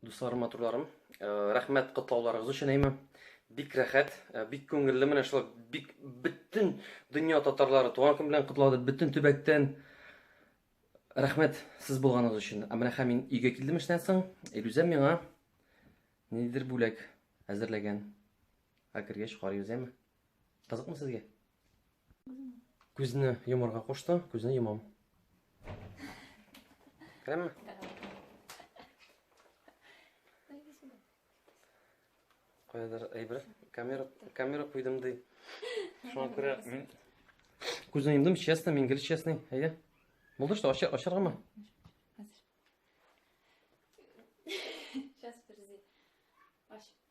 Дусларым, матурларым, э, рәхмәт котлауларыгыз өчен әйме. Бик рәхәт, э, бик күңелле менә шулай бик бөтен дөнья татарлары туган көн белән котлады, бөтен төбәктән. Рәхмәт сез булганыгыз өчен. Ә менә хәм мин өйгә килдем эштән соң, Илүзә миңа нидер бүләк әзерләгән. Ә кергәч карыйбыз, әйме? Кызыкмы сезгә? Күзне йомарга кушты, күзне йомам. Керәме? Кайдыр әйбер. Камера, камера куйдым ди. Шуңа күрә мин күзне йомдым, честно, мин гел честный. Әйе. Булды что, ашар, ашаргамы? Сейчас, подожди. Аш.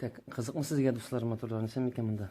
Так, кызыкмы сезгә дуслар моторларын исән микән монда?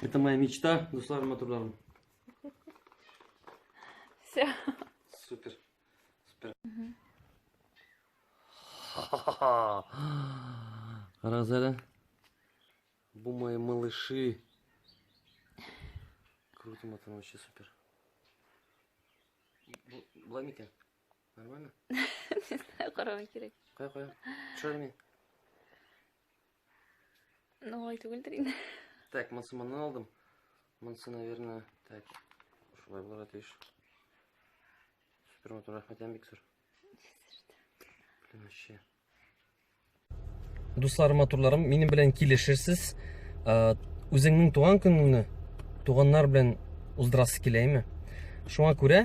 Это моя мечта, Дуслар Матурларым. Все. Супер. Супер. Разера. Бу мои малыши. Круто, матан, вообще супер. Бламика. Нормально? Не знаю, карама кирәк. Кая, кая? Төшерми. Ну, ой, түгелдер инде. Так, монсы моннан алдым. Монсы, наверное, так. Шулай булырга тиеш. Супер матур, рәхмәт, Ямбик, сыр. Блин, вообще. Дусларым, матурларым, минем белән килешерсез. Э, Үзеңнең туган көнеңне туганнар белән уздырасы киләме? Шуңа күрә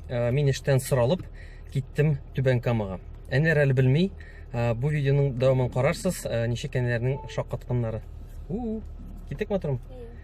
э, мин эштән соралып киттем Түбән Камага. Әниләр әле белми, э, бу видеоның дәвамын карарсыз, ничек әниләрнең шаккатканнары. У, китек матурым.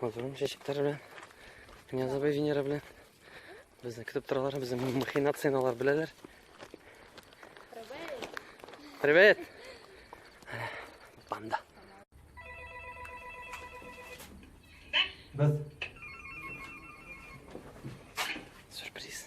Мазурым чәчәкләре белән. Князова Венера белән. Безне көтеп торалар, безнең махинацияләр беләләр. Привет. Банда. Без сюрприз.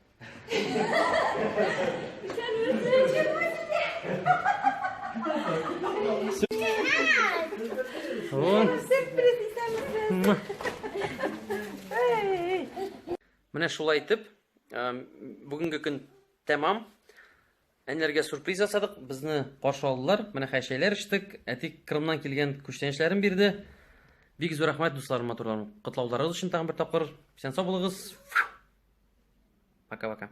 Менә шулай итеп, бүгенге көн тәмам. Әниләргә сюрприз ясадык, безне каршы алдылар. Менә хәй чәйләр эчтек. Әти Крымнан килгән күчтәнәчләрен бирде. Бик зур рәхмәт дусларым, матурларым. Котлауларыгыз өчен тагын бер тапкыр. Исән сау булыгыз. Пока-пока.